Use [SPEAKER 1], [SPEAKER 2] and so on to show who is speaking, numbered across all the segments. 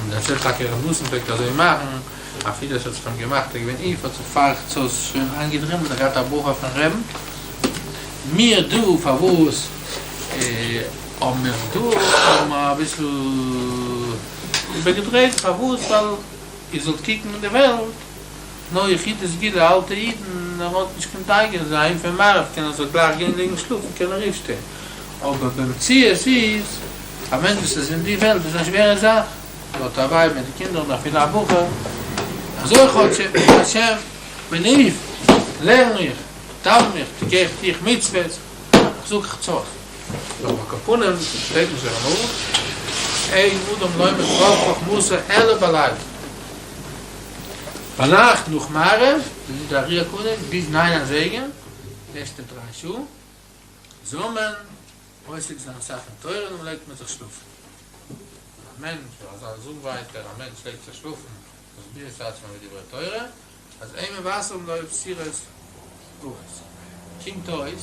[SPEAKER 1] און דערצו טאקע ר' ניסן פלעגט אזוי מאכן, אפילו עס האט זיך אים געמאכט ער איז געווען עייף האט זיך פרח צות שוין איינגעדרימלט און געהאט א ברכה פון ר' מאיר דא פארוואס האבן מיר דא האבן מיר אביסל איבערגעדרייט פארוואס ווייל איר זאלט קוקן אין די וועלט נאר יחידי סגולה אלטע אידן ווען מ'האט נישט קיין טייג אין זיי פון מעריב קען ער זיך גלייך גיין ליגן שלאפן קען ער אויפשטיין אבער במציאות איז א מענטש וואס איז אין די וועלט איז א שווערע זאך ער האט א ווייב מיט די קינדער און אפילו א בחור אזוי כאטש השם בליעף לערן איך דאוון איך טו איך טו איך מצוות זאג חצות נאר על כל פנים שטייט נישט דער אמאל אין אדם לומד רוב חכמתו אלא בלילה. ביינאכט נאך מעריב זענען די אריה קונים ביז ניין אזייגער, די ערשטע דריי שעה זאל מען עוסק זיין אסאך אין תורה און דעם לייגט מען זיך שלאפן. א מענטש זאל אזא זאג ווייטער, א מענטש לייגט זיך שלאפן מסביר את עצמו מיט דברי תורה, אז אין מבשרם לויף סירות גבורות. קומט אויס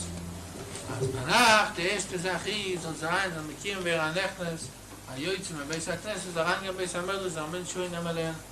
[SPEAKER 1] אז ביינאכט די ערשטע זאך איז זאל זיין זאל מקיום ווערן א נכנס א יוצא מבית הכנסת אריינגיין בית המדרש זאל א מענטש שוין נעמען לערנען.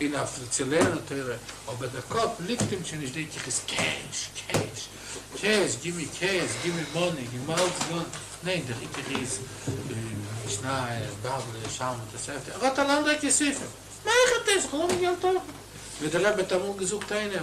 [SPEAKER 1] אין אויף צו לערנען תורה, אבער דער קאפ ליגט אים שוין נישט דענק איך איז קעש, קעש, קעש, גימי קעש, גימי מאני, גימי אלץ גאן, ניין דער עיקר איז משנה, בבלי, שלמא, תוספתא, ער האט אן אנדערע כספים, מאך ער דאס, כ'לאז אים געלט האבן, ווי דער רבי האט אמאל געזאגט איינער.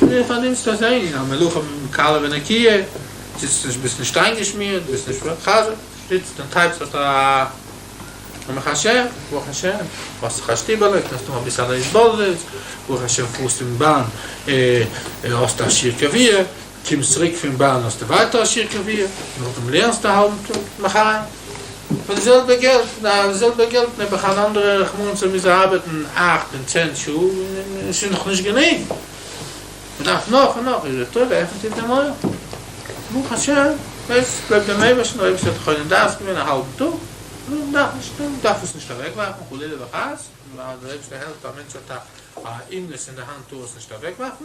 [SPEAKER 1] דו פארנימסט אויס איין א מלוכה קלה ונקיה, זיצט נישט ביסט נישט איינגעשמירט ביסט נישט חזק, זיצט און טייפסט האסט א ברוך השם, ברוך השם, האסט זיך א שטיבעלע, קענסט האבן אביסעלע התבודדות, ברוך השם פארסט אין באן, האסט א שיעור קביעה. קומסט צוריק פון באן האסטו ווייטער א שיעור קביעה, נאכדעם לערנסטו א האלבן טאג מחר פאר די זעלבע געלט, די זעלבע געלט נעבעך אן אנדערע רחמנות ער מוז ארבעטן אכט און צען שעה און עס איז נאך נישט גענוג מען דארף נאך און נאך, איז די תורה עפענט איר די מויל ברוך השם עס גלויבט דעם אייבערשטן אויב עס האט חו נישט דארפסט געווען א האלבן טאג מען דארף נישט מען דארף עס נישט אוועקווארפן חלילה וחס ווייל דער אייבערשטער העלפט א מענטש האט א אומנות אין די האנט טאר עס נישט אוועקווארפן.